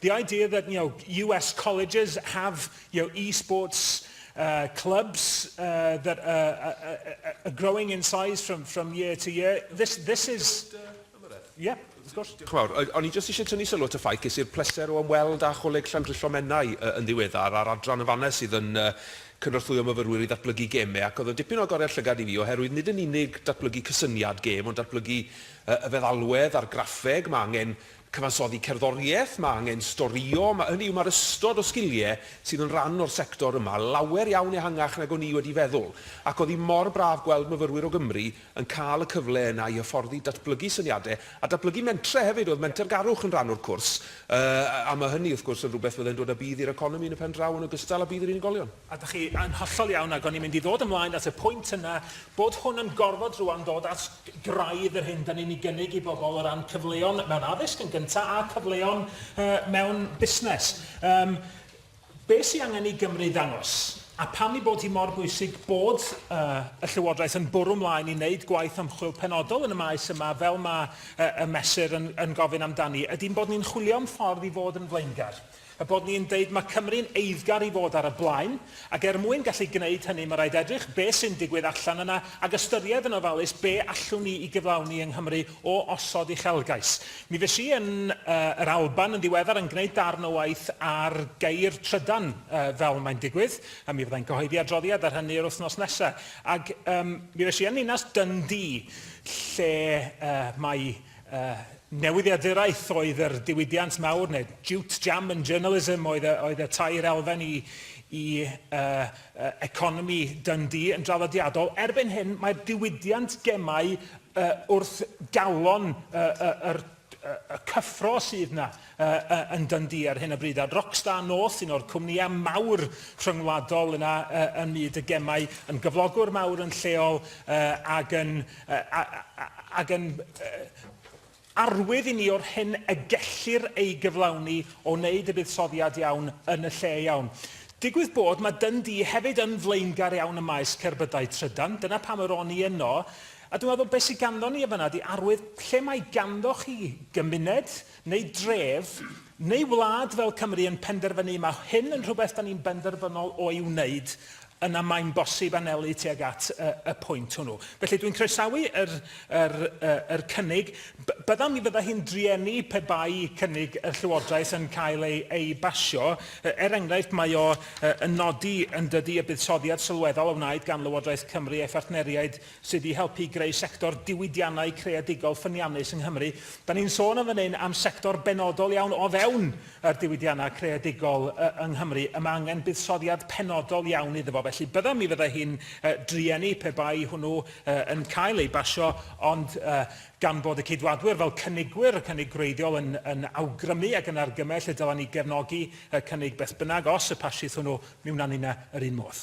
The idea that you know US colleges have you know esports uh, clubs uh, that are, are, are growing in size from from year to year. This this is yeah. Chwawr, o'n i jyst eisiau tynnu sylw at y ffaith ges i'r pleser o ymweld â Choleg Llandrillo Menai uh, yn ddiweddar a'r adran yn fannes sydd yn uh, cynorthwyo myfyrwyr i ddatblygu gemau ac oedd yn dipyn o agoriad llygad i fi oherwydd nid yn unig datblygu cysyniad gêm ond datblygu uh, y feddalwedd a'r graffeg mae angen Cyfansoddi cerddoriaeth, mae angen storio, mae, hynny yw, mae'r ystod o sgiliau sydd yn rhan o'r sector yma lawer iawn ehangach nag o'n i wedi feddwl, ac oedd hi mor braf gweld myfyrwyr o Gymru yn cael y cyfle yna i hyfforddi, datblygu syniadau, a datblygu mentrau hefyd, oedd mentergarwch yn rhan o'r cwrs, yy, a mae hynny, wrth gwrs, yn rhywbeth fyddai'n dod â budd i'r economi yn y pen draw yn ogystal â budd i'r unigolion. A dach chi yn hollol iawn, ac o'n i'n mynd i ddod ymlaen at y pwynt yna, bod hwn yn gorfod rŵan dod at graidd yr hyn 'dan ni'n ei gynnig i bobl o ran cyfleon mewn addysg yn gyntaf a cyfleon yy mewn busnes. Yym be' sy angen i Gymru ddangos, a pam ei bod hi mor bwysig bod yy y Llywodraeth yn bwrw 'mlaen i wneud gwaith ymchwil penodol yn y maes yma fel ma' yy y Mesur yn yn gofyn amdani, ydi'n bod ni'n chwilio am ffordd i fod yn flaengar. Er bod ni yn deud mae Cymru'n eiddgar i fod ar y blaen, ac er mwyn gallu gwneud hynny mae rhaid edrych be sy'n digwydd allan yna ac ystyried yn ofalus be allwn ni i gyflawni yng Nghymru o osod uchelgais. Mi fues i yn yr Alban yn ddiweddar yn gwneud darn o waith ar geir trydan fel mae'n digwydd, a mi fyddai'n cyhoeddi adroddiad ar hynny yr wythnos nesaf, ac mi fues i yn ninas Dundee lle mae Uh, newyddiaduraeth oedd yr diwydiant mawr, neu jute, jam and journalism oedd y, oedd y tair elfen i, i uh, uh, economi Dundee yn draddodiadol. Erbyn hyn, mae'r diwydiant gemau uh, wrth galon uh, uh, uh, y cyffro sydd na. yn Dundee ar hyn o bryd, a Rockstar North, un o'r cwmnïau mawr rhyngwladol yna ym myd y gemau, yn gyflogwr mawr yn lleol ac yn ac yn arwydd i ni o'r hyn y gellir ei gyflawni o wneud y buddsoddiad iawn yn y lle iawn. Digwydd bod, mae Dundee hefyd yn flaengar iawn ym maes cerbydau trydan, dyna pam yr o'n i yno, a dwi'n meddwl beth sydd ganddo ni yn fan'na ydy arwydd lle mae ganddo chi gymuned, neu dref, neu wlad fel Cymru yn penderfynu mae hyn yn rhywbeth da ni'n benderfynol o'i wneud, yna mae'n bosib anelu tuag at y, y pwynt hwnnw. Felly dwi'n croesawu yr, yr, yr cynnig. Byddaf mi fydda hi'n drueni pe bai cynnig y Llywodraeth yn cael ei, ei basio. Er enghraifft, mae o yn nodi yn dydy y buddsoddiad sylweddol a wnaed gan Lywodraeth Cymru a'i phartneriaid Sut i helpu i greu sector diwydiannau creadigol ffyniannus yng Nghymru. Da ni'n sôn yn fan hyn am sector benodol iawn o fewn yr diwydiannau creadigol yng Nghymru. Y mae angen buddsoddiad penodol iawn iddo fo. Felly bydda, mi fydda hi'n drueni pe bai hwnnw yn cael ei basio, ond gan bod y Ceidwadwyr fel cynigwyr, y cynnig gwreiddiol, yn yn awgrymu ac yn argymell y dylen ni gefnogi y cynnig beth bynnag os y pasiith hwnnw, mi wna ni yna yr un modd.